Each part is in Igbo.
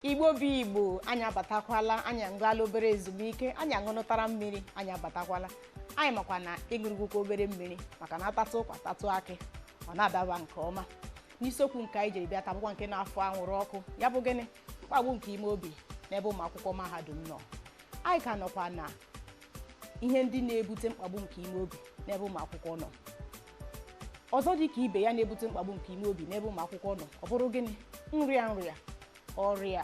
igbo bụ igbo anyị abatakwala anyị agaala obere ezumike anyị ṅụrụtara mmiri anyị abatakwala anyị makwa na ị ṅụrụgokwa obere mmiri maka na a tatụ ụkwa tatụ akị ọ na-adaba nke ọma n'isiokwu nke anyị jiri bịa taa bụkwa nke na-afụ anwụrụ ọkụ ya bụ gịnị mkpagbu nke ime obi n'ebe ụmụ akwụkwọ mahadum nọ anyị ka nọkwa na ihe ndị na-ebute mkpagbu nke ime obi n'ebe ụmụ akwụkwọ nọ ọzọ dị ka ibe ya na-ebute mkpagbu nke ime obi n'ebe ụmụ akwụkwọ nọ ọ bụrụ gịnị nrịa nrịa ọrịa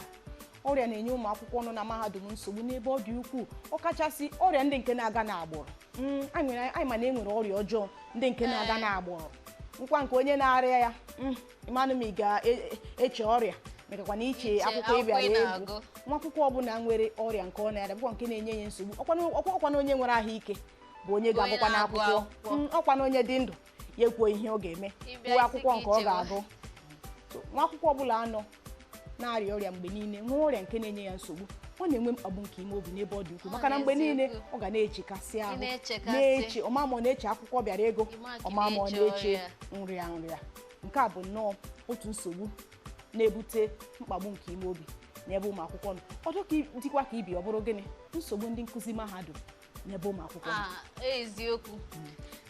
ọrịa na-enye ụmụ akwụkwọ nọ na mahadum nsogbu n'ebe ọ dị ukwuu ọkachasị ọrịa ndị nke na-aga n'agbụrụ Mm, anyị nwere- anyị ma na e nwere ọrịa ọjọọ ndị nke na-aga n'agbụrụ nkwa nke onye na-arịa ya mm, ị manụ ma ị ga-eche ọrịa mekakwa na iche Iche akwụkwọ ị akwụkwọ ị bịara ịgụ na-agụ. nwa akwụkwọ ọbụla nwere ọrịa nke ọ na-arịa bụkwa nke na-enye ya nsogbu ọkwa na- ọkwa ọkwa na onye nwere ahụike bụ onye ga-agụkwanụ akwụkwọ mm, ọkwa na onye dị ndụ ya ekwuo ihe ọ ga-eme kwuo akwụkwọ nke ọ ga-agụ nwa akwụkwọ ọbụla nọ na-arịa ọrịa mgbe niile nwee ọrịa nke na-enye ya nsogbu ọ na-enwe mkpagbu nke ime obi n'ebe ọ dị ukwuu maka na mgbe niile ọ ga na-echekasị ahụ na-eche ọ ma ma ọ na-eche akwụkwọ ọ bịara ịgụ ọ ma ma ọ na-eche nrịa nrịa nke a bụ nnọọ otu nsogbu na-ebute mkpagbu nke ime obi n'ebe ụmụ akwụkwọ nọ ọdọ ka dịkwa ka ibe ọ bụrụ gịnị nsogbu ndị nkụzi mahadum n'ebe ụmụ akwụkwọ nọ. Ah, eziokwu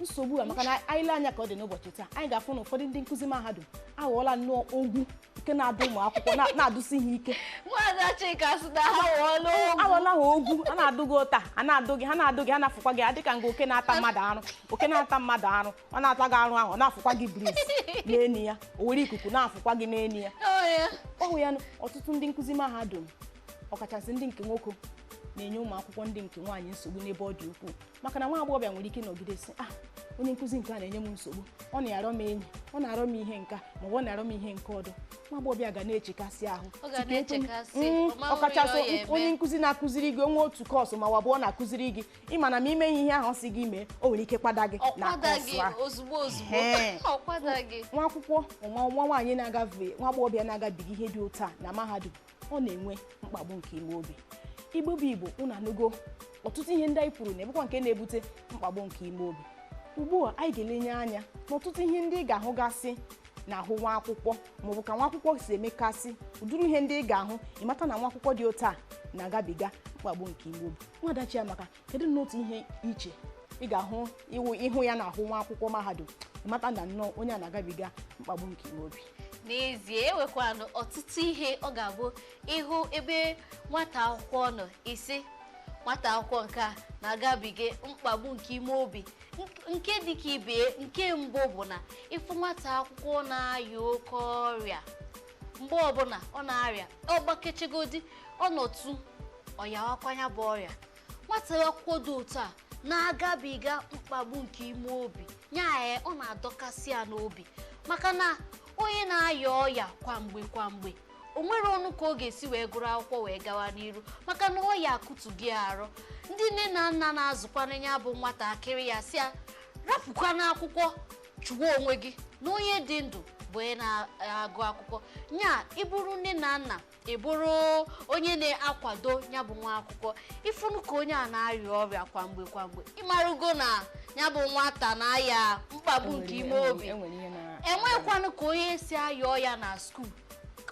nsogbu a maka na anyị lee anya ka ọ dị n'ụbọchị taa anyị ga-afụ na ụfọdụ ndị nkụzi mahadum aghọọla nnọọ ogwu nke na-adụ ụmụ akwụkwọ na- na-adụsi ha ike nwaada chika sị na ha aghọọla ogwu aghọọla ha ogwu a na-adụ gị ụta a na-adụ gị ha na-adụ gị ha na-afụkwa gị adịka nga oke na-ata mmadụ arụ oke na-ata mmadụ arụ ọ na-ata gị arụ ahụ ọ na-afụkwa gị breeze n'enu ya o were ikuku na-afụkwa gị n'enu ya ọ wụ ya ọtụtụ ndị nkụzi mahadum ọkachasị ndị nke nwoke na-enye ụmụ akwụkwọ ndị nke nwaanyị nsogbu n'ebe ọ dị ukwuu maka na nwa agbọghọbịa nwere ike ịnọgide sị ah onye nkụzi nke a na-enye m nsogbu ọ na-arọ m enyi ọ na-arọ m ihe nke a ma ọ na-arọ m ihe nke ọdọ nwa agbọghọbịa ga na-echekasị ahụ mm, ọkachasị onye nkụzi na-akụziri gị o nwee otu course ma ọ wụ abụọ ọ na-akụziri gị ị ma na ma i meghị ihe ahụ ọ sị gị mee o nwere ike kwada gị na ọ kwada course gị ahụ ozugbo ozugbo Ehe. ọ kwada gị nwa akwụkwọ nwa nwa nwaanyị na-agafe nwa agbọghọbịa na-agabiga ihe dị otu a na mahadum ọ na-enwe mkpagbu nke ime obi igbo bụ igbo unu anụgo ọtụtụ ihe ndị anyị kwuru na ọ bụkwa nke na-ebute mkpagbu nke ime obi ugbu a anyị ga-elenye anya n'ọtụtụ ihe ndị ị ga-ahụgasị n'ahụ nwa akwụkwọ maọbụ ka nwa akwụkwọ si emekasị ụdịrị ihe ndị ị ga-ahụ ị mata na nwa akwụkwọ dị otu a na-agabiga mkpagbu nke ime obi nwaada Chiamaka kedu nnọọ otu ihe i che ị ga-ahụ ị hụ ya n'ahụ nwa akwụkwọ mahadum ị mata na nnọọ onye a na-agabiga mkpagbu nke ime obi n'ezie e nwekwanụ ọtụtụ ihe ọ ga-abụ ị hụ ebe nwata akwụkwọ nọ ị sị nwata akwụkwọ nke a na-agabiga mkpagbu nke ime obi nke dịka ibe nke mbụ bụ na ịfụ nwata akwụkwọ na-aya oke ọrịa mgbe ọbụla ọ na-arịa ọ gbakechegodi ọ nọtụ ọ yawakwa nya bụ ọrịa nwata akwụkwọ dị otu a na-agabiga mkpagbu nke ime obi nya ọ na-adọkasị ya n'obi maka na onye na-aya ọya kwamgbe kwamgbe o nwerọnụ ka ọ ga-esi wee gụrụ akwụkwọ wee gawa n'iru maka na ọya akụtu gị arụ ndị nne na nna na-azụkwanụ nya bụ nwatakịrị ya sị ya rapụkwanụ akwụkwọ chụwa onwe gị na onye dị ndụ bụ onye na-agụ akwụkwọ nya ị bụrụ nne na nna ị bụrụ onye na-akwado ya bụ nwa akwụkwọ ị fụnụ ka onye a na-arịa ọrịa kwa mgbe kwa mgbe ị marụgo na ya bụ nwata na-aya mkpagbu nke ime obi enwekwanụ ka onye si aya ọya na skuul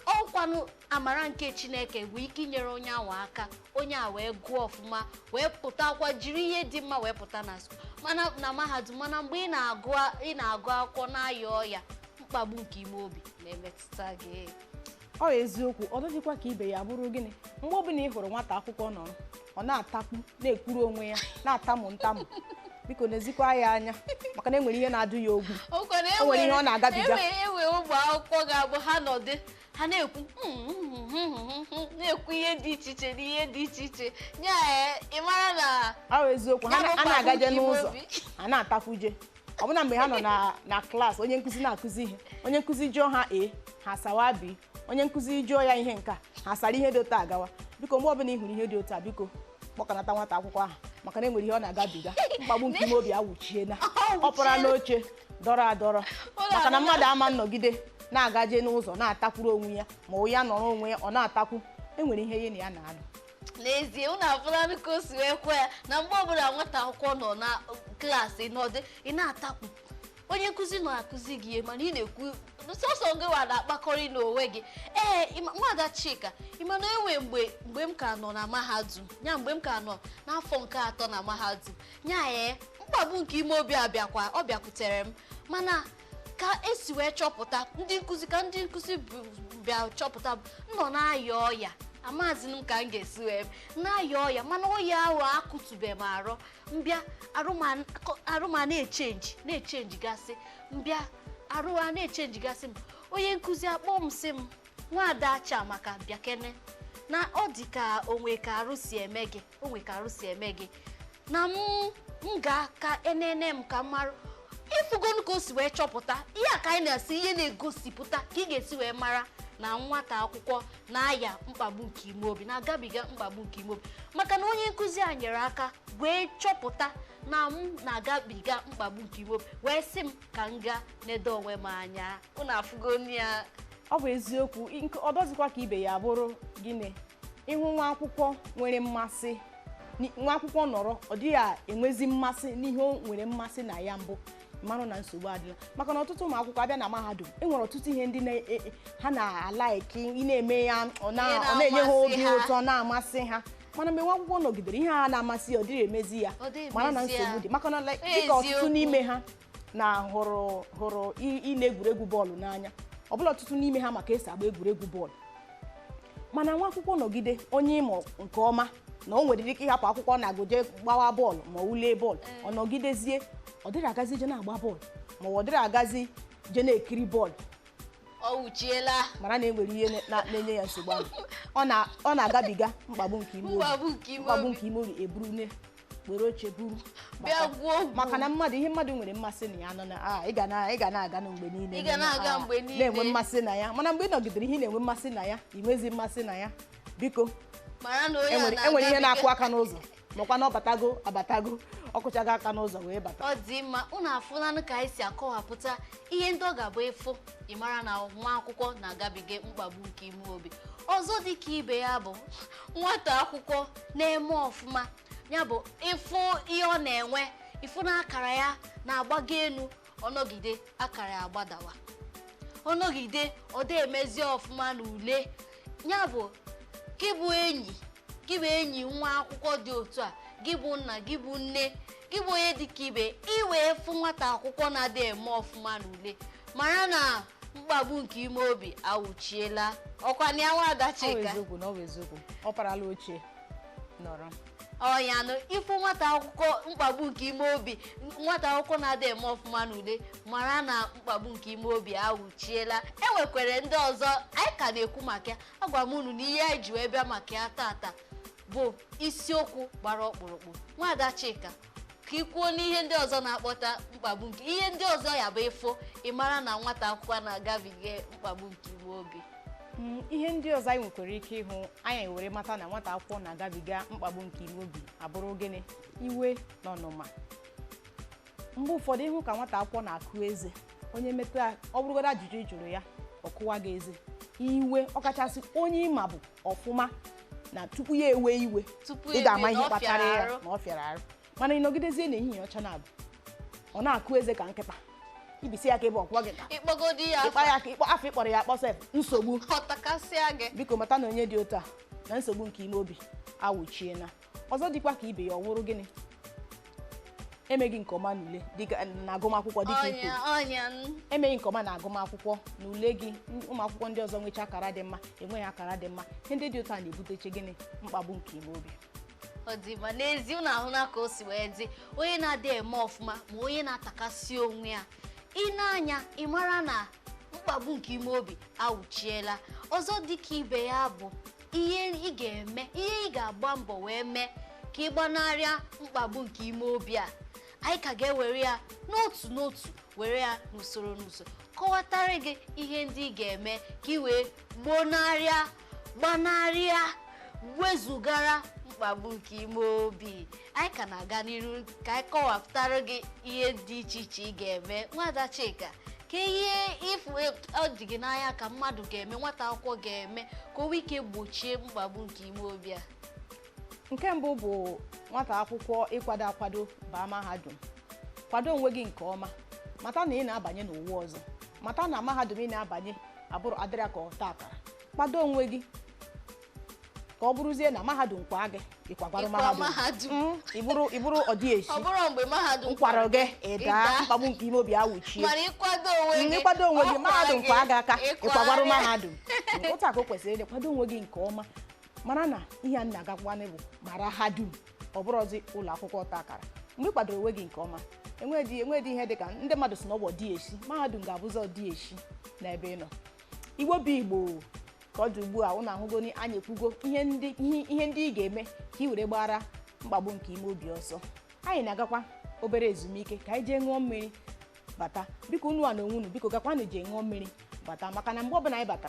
ọ kwanụ amara nke chineke bụ ike inyere onye ahụ aka onye a wee gụọ ọfụma wee pụtakwa jiri ihe dị mma wee pụta na skuul mana na mahadum mana mgbe ị na-agụ ị na-agụ akwụkwọ na-aya ọya mkpagbu nke ime obi na-emetụta gị ọ eziokwu ọzọ dịkwa ka ibe ya bụrụ gịnị mgbe ọbụla ị hụrụ nwata akwụkwọ nọrọ ọ na-atakwu na-ekwuru onwe ya na-atamụ ntamụ biko nezikwa ya anya maka na enwere ihe na-adụ ya ogwu o nwere ihe ọ na-agabiga. enwere ụmụ akwụkwọ ga-abụ ha nọdụ ha na-ekwu na-ekwu ihe dị iche iche na ihe dị iche iche nya ị mara na ọ bụ eziokwu ha na-agaje n'ụzọ ha na-atakwuje ọbụna mgbe ha nọ na- na klaasị onye nkụzi na-akụzi ihe onye nkụzi jụọ ha A ha asawa B onye nkụzi jụọ ya ihe nke a ha sara ihe dị otu a gawa biko mgbe ọbụla ị hụrụ ihe dị otu a biko kpọkanata nwata akwụkwọ ahụ maka na enwere ihe ọ na-agabiga mkpagbu nke ime obi awụchiena ọ pụra n'oche dọrọ adọrọ maka na mmadụ ama nnọgide na-agaje n'ụzọ na-atakwuru onwe ya ma ọ ya nọrọ onwe ya ọ na-atakwu enwere ihe ya na ya na-alụ n'ezie unu afụlanụ ka o si wee kwue ya na mgbe ọbụla nwata akwụkwọ nọ na klaasị nọdụ ị na-atakwu onye nkụzi nọ akụzi gị ihe mana ị na-ekwu sọsọ gị wa na-akpakọrị n'onwe gị ee ịma- nwaada Chika ị ma na enwe mgbe mgbe m ka nọ na mahadum ya mgbe m ka nọ n'afọ nke atọ na mahadum ya ee mkpagbu nke ime obi abịakwa ọ bịakwutere m mana ka esi wee chọpụta ndị nkụzi ka ndị nkụzi bụ- bịa chọpụta bụ, m nọ na-aya ọya amazi m ka m ga-esi wee na-aya ọya mana ọya ahụ akụtube m arụ m bịa arụ m a na-echenji na-echenji gasị m bịa arụ a na-echenji gasị m onye nkụzi akpọ m sị m nwaada Chiamaka bịakene na ọ dị ka o nwe ka arụ si eme gị o nwe ka arụ si eme gị na m gaa ka e nene m ka m marụ ị fụgonụ ka o si wee chọpụta ihe a ka anyị na-asị ihe na-egosipụta ka ị ga-esi wee mara na nwata akwụkwọ na-aya mkpagbu nke ime obi na-agabiga mkpagbu nke ime obi maka na onye nkụzi a nyere aka wee chọpụta na m na-agabiga mkpagbu nke ime obi wee sị m ka m gaa nedo onwe m anya unu afụgonụ ya ọ bụ eziokwu ọdọzikwa ka ibe ya bụrụ gịnị ịhụ nwa akwụkwọ nwere mmasị ni- nwa akwụkwọ nọrọ ọ dịghị enwezi mmasị n'ihe o nwere mmasị na ya mbụ mara na nsogbu adịla maka na ọtụtụ ụmụ akwụkwọ abịa na mahadum e nwere ọtụtụ ihe ndị na- e- e- ha na-alaiki ịna-eme ya ọ na-enye ha obi ụtọ na-amasị ha mana mgbe nwa akwụkwọ nọgidere ihe a na-amasị ya ọ dịrị emezi ya mara na nsogbu dị maka na dịka ọtụtụ n'ime ha na hụrụ hụrụ i- ile egwuregwu bọọlụ n'anya ọbụla ọtụtụ n'ime ha ma ka e si agba egwuregwu bọọlụ mana nwa akwụkwọ nọgide onye ị ma nke ọma na o nwere ike ịhapụ akwụkwọ na-agụ je gbawa bọọlụ ma ọ wụ lee bọọlụ ọ nọgidezie ọ dịrị agazi je na-agba bọọlụ ma ọ dịrị agazi je na-ekiri bọọlụ ọ wụchiela mara na enwere ihe na- na- na-enye ya nsogbu ahụ Ọ na- ọ na-agabiga mkpagbu nke ime obi eburune were oche buru maka na ihe mmadụ nwere mmasị na ya nọ na ị ga na-aganụ mgbe niile na-enwe mmasị na ya mana mgbe ị nọgidere ihe ị na-enwe mmasị na ya ị nwezi mmasị na ya biko mara na enwere ihe na-akụ aka n'ụzọ makwa na ọ batago abatago ọ kụchago aka n'ụzọ wee bata ọ dị mma unu afụlanụ ka anyị si akọwapụta ihe ndị ọ ga-abụ ịfụ ị mara na nwa akwụkwọ na-agabiga mkpagbu nke ime obi ọzọ dị ka ibe ya bụ nwata akwụkwọ na-eme ọfụma ya bụ ịfụ ihe ọ na-enwe ịfụ na akara ya na-agbago elu ọ nọgide akara ya agbadawa ọ nọgide ọ dị emezi ọfụma na ule ya bụ gị bụ enyi gị bụ enyi nwa akwụkwọ dị otu a gị bụ nna gị bụ nne gị bụ onye dịka ibe ị wee fụ nwata akwụkwọ na-adị eme ọfụma na ule mara na mkpagbu nke ime obi awụchiela ọkwa na ya nwada Chika ọ bụ eziokwu na ọ bụ eziokwu ọ parala oche nọrọ ọ yanụ ịfụ nwata akwụkwọ mkpagbu nke ime obi nwata akwụkwọ na-adị eme ọfụma n'ule mara na mkpagbu nke ime obi awụchiela enwekwere ndị ọzọ anyị ka na-ekwu maka ya agwa m unu na ihe anyị ji wee bịa maka ya tata bụ isiokwu gbara ọkpụrụkpụ nwada Chika ka ị kwuo n'ihe ndị ọzọ na-akpọta mkpagbu nke ihe ndị ọzọ ya bụ ịfụ ị mara na nwata akwụkwọ na-agabiga mkpagbu nke ime obi Mm, ihe ndị ọzọ anyị nwekwara ike ịhụ anyị were mata na nwata akwụkwọ na-agabiga mkpagbu nke ime obi abụrụ gịnị iwe na ọnụma mgbe ụfọdụ ị hụ ka nwata akwụkwọ na-akụ eze onye metụ ya ọ bụrụgodo ajụjụ ị jụrụ ya ọ kụwa gị eze iwe ọkachasị onye ị ma bụ ọfụma na tupu ya ewee iwe tupu ị ga-ama ihe kpatara ya na ọ fịara arụ mana ị nọgidezie n'ehihie ọcha na abụ ọ na-akụ eze ka nkịta i bisi ya aka ebe ọkwọ gị ka ị kpọgodi ya ị kpa ya aka ịkpọ afọ ị kpọrọ ya akpọsa nsogbu ọ takasịa gị biko mata na onye dị otu a na nsogbu nke ime obi awụchiena ọzọ dịkwa ka ibe ya ọ wụrụ gịnị emeghị nke ọma n'ule dịka na agụmakwụkwọ dịka ikwu ọnya ọnya n- emeghị nke ọma na agụmakwụkwọ na ule gị n- ụmụ akwụkwọ ndị ọzọ nwecha akara dị mma i nweghị akara dị mma ihe ndị dị otu a na-ebuteche gịnị mkpagbu nke ime obi ọ dị mma n'ezi ụnụ ahụna ka o si wee dị onye na-adị eme ọfụma ma onye na-atakasị onwe ya i nee anya ị mara na mkpagbu nke ime obi awụchiela ọzọ dịka ibe ya bụ ihe ị ga-eme ihe ị ga-agba mbọ wee mee ka ị gbanarịa mkpagbu nke ime obi a anyị ka ga-ewere ya n'otu n'otu were ya n'usoro n'usoro kọwatara gị ihe ndị ị ga-eme ka ị wee gbonarịa gbanarịa wezugara mkpagbu nke ime obi anyị ka na-aga n'iru ka anyị kọwapụtara gị ihe dị iche iche ị ga-eme nwada Chika kee ihe ị fụ ọ dị gị n'anya ka mmadụ ga-eme nwata akwụkwọ ga-eme ka o nwee ike gbochie mkpagbu nke ime obi a nke mbụ bụ nwata akwụkwọ ịkwado akwado baa mahadum kwado onwe gị nke ọma mata na ị na-abanye n'ụwa ọzọ mata na mahadum ị na-abanye abụrọ adịrọ ka ọta akara kwado onwe gị ka ọ bụrụzie na mahadum kwaa gị ị kwagwara Ịkwa mahadum mahadum. Mm, ị bụrụ ị bụrụ ọdịeshi ọ bụrụ mgbe mahadum kwara gị ị daa Ị daa. mkpagbu nke ime obi awụchie mana ị kwado onwe gị ị kwado onwe gị ọ mahadum kwa kwaa gị aka ịkwa ị kwagwara gị. mahadum otu a ka o kwesịrị ịdị kwado onwe gị nke ọma mara na ihe a m na-agakwanị bụ mara ha dum ọ bụrọzi ụlọ akwụkwọ ọta akara mgbe ị kwadoro onwe gị nke ọma enwedị enwedị ihe dị ka ndị mmadụ si na ọ bụ ọdịeshi mahadum ga-abụzi ọdịeshi n'ebe ị nọ Igbo bụ Igbo ka ọ dị ugbu a ụnụ ahụgoni anyị ekwugo ihe ndị ihe ihe ndị ị ga-eme ka ị were gbara mkpagbu nke ime obi ọsọ anyị na-agakwa obere ezumike ka anyị jee ṅụọ mmiri bata biko unuwa na onwe unu biko gakwanụ jee ṅụọ mmiri bata maka na mgbe ọbụla anyị batara